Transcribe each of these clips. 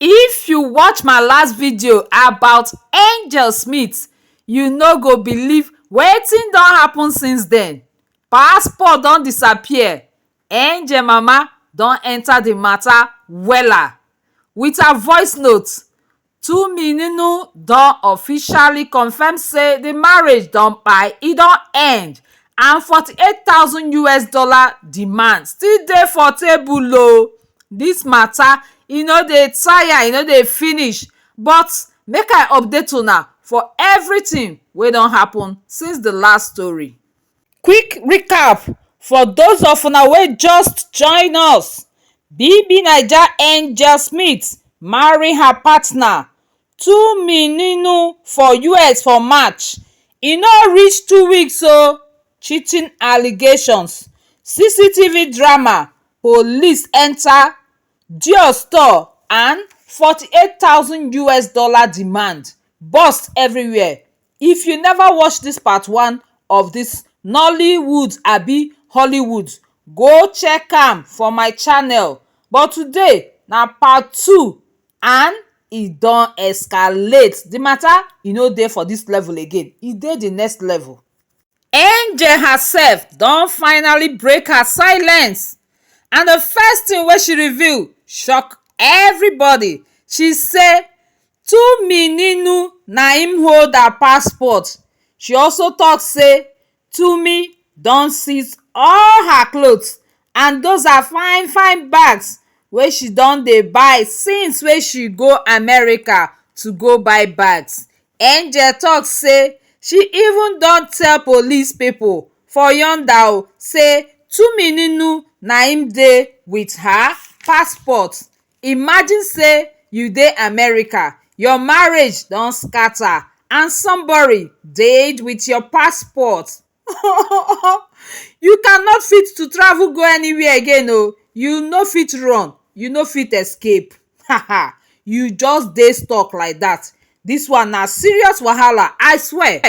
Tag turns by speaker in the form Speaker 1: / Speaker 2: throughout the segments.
Speaker 1: If you watch my last video about Angel Smith you no go believe wetin don happen since then passport don disappear Angel mama don enter the matter wella with her voice note Tunmi Ninu don officially confirm say di marriage don kpai, e don end and forty eight thousand us dollar demand still dey for table o. Dis matter e no dey tire, e no dey finish but make I update una for everything wey don happen since di last story. Quick recap for those of una wey just join us, BBNaija and Jael Smith marry her partner Tumininu for us for March, e no reach two weeks oh, cheating allegations, CCTV drama, police enter Dior store and forty eight thousand us dollar demand burst everywhere if you never watch this part one of this nollywood abi hollywood go check am for my channel but today na part two and e don escalate the matter e no dey for this level again e dey the next level Angel herself don finally break her silence and the first thing wey she reveal shock everybody, she say Tunmi Ninu na im hold her passport, she also talk say Tunmi don seize all her clothes and those her fine fine bags wey she don dey buy since wey she go America to go buy bags Angel talk say she even don tell police people for yonder o say Tumininu na im dey with her passport imagine say you dey America your marriage don scatter and somebody dey with your passport you can not fit to travel go anywhere again o you no fit run you no fit escape haha you just dey stuck like that this one na serious wahala i swear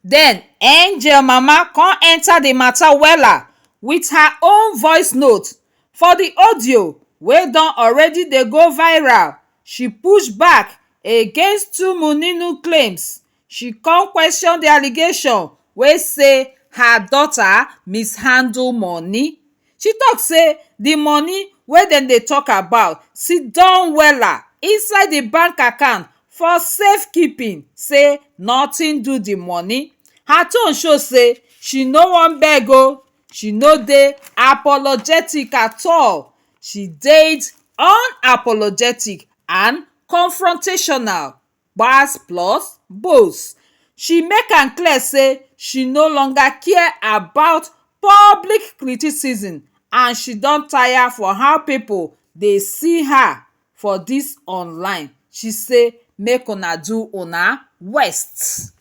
Speaker 1: then angel mama come enter the matter wella with her own voice note for the audio wey don already dey go viral she push back against tumuninu claims She come question di allegation wey say her daughter mishandle money. She talk say di money wey dem dey talk about siddon wella inside di bank account for safe keeping say nothing do di money. Her tone show say she no wan beg o, she no dey apologetic at all, she dey unapologetic and confrontational. gbas plus gbos she make am clear say she no longer care about public criticism and she don tire for how pipo dey see her for dis online she say make una do una west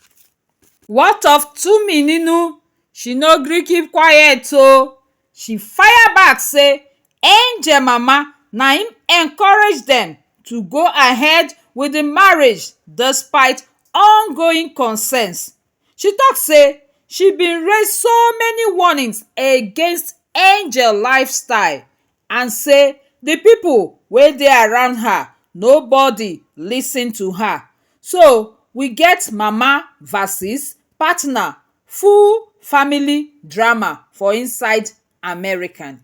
Speaker 1: what of tumininu she no gree keep quiet o She fire back say Angel mama na im encourage dem to go ahead with di marriage despite ongoing concerns. She tok say she bin raise so many warnings against Angel lifestyle and say di pipo wey dey around her nobody listen to her so we get mama versus partner full family drama for inside American.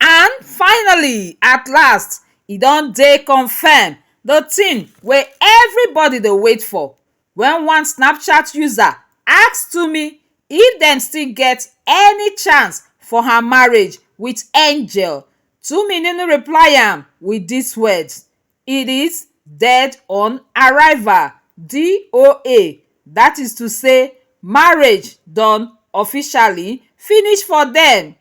Speaker 1: And finally, at last, e don dey confirmed, the thing wey everybody dey wait for when one Snapchat user ask Tumi if dem still get any chance for her marriage with Angel, Tumi Nunu reply am with dis words, it is dead on arrival DOA that is to say marriage don officially finish for dem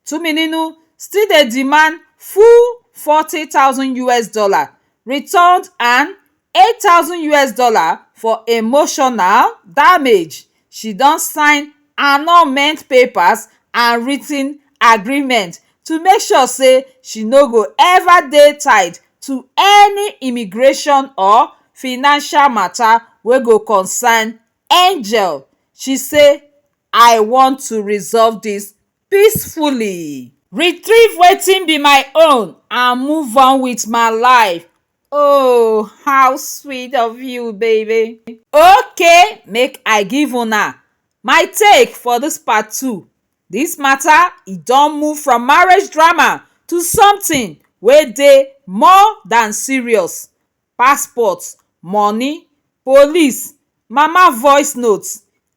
Speaker 1: Tumininu still dey demand full forty thousand us dollar returned and eight thousand us dollar for emotional damage she don sign annulment papers and writ ten agreement to make sure say she no go ever dey tied to any immigration or financial matter wey go concern angel she say i want to resolve this peacefully retrieve wetin be my own and move on with my life Oh, how sweet of you, baby. Okay, make I give una my take for this part two. This matter e don move from marriage drama to something wey dey more than serious. Passport, money, police, mama voice note,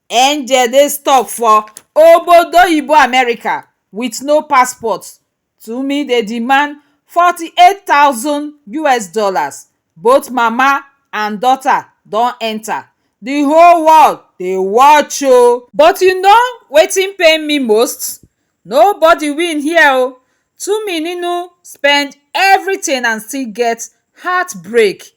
Speaker 1: angel dey stuck for obodoyibo America with no passport, Tuumi dey demand forty eight thousand us dollars both mama and daughter don enter the whole world dey watch o. But you know wetin pain me most nobody win here o Tuumi ninu spend everything and still get heart break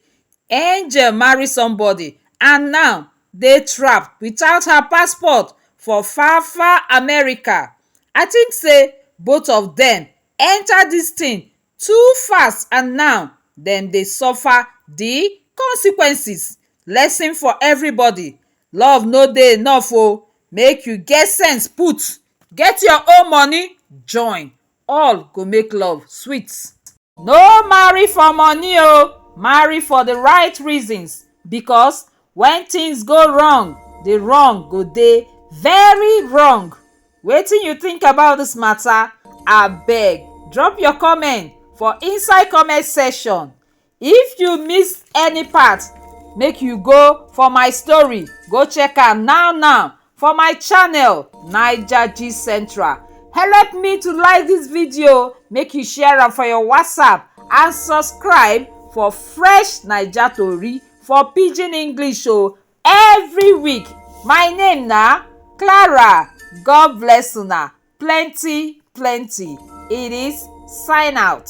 Speaker 1: Angel marry somebody and now dey trapped without her passport for far far america i think say both of dem enter dis thing too fast and now dem dey suffer di consequences lesson for everybody love no dey enough o make you get sense put get your own money join all go make love sweet no marry for money o marry for the right reasons because when things go wrong the wrong go dey very wrong wetin you think about this matter abeg drop your comment for inside comment section If you miss any part, make you go for my story go check am now now for my channel Naija Gist Central. Help me to like this video, make you share am for your WhatsApp and subscribe for fresh Naija tori for pidgin English o every week. My name na Clara. God bless una plenty plenty. It is sign out.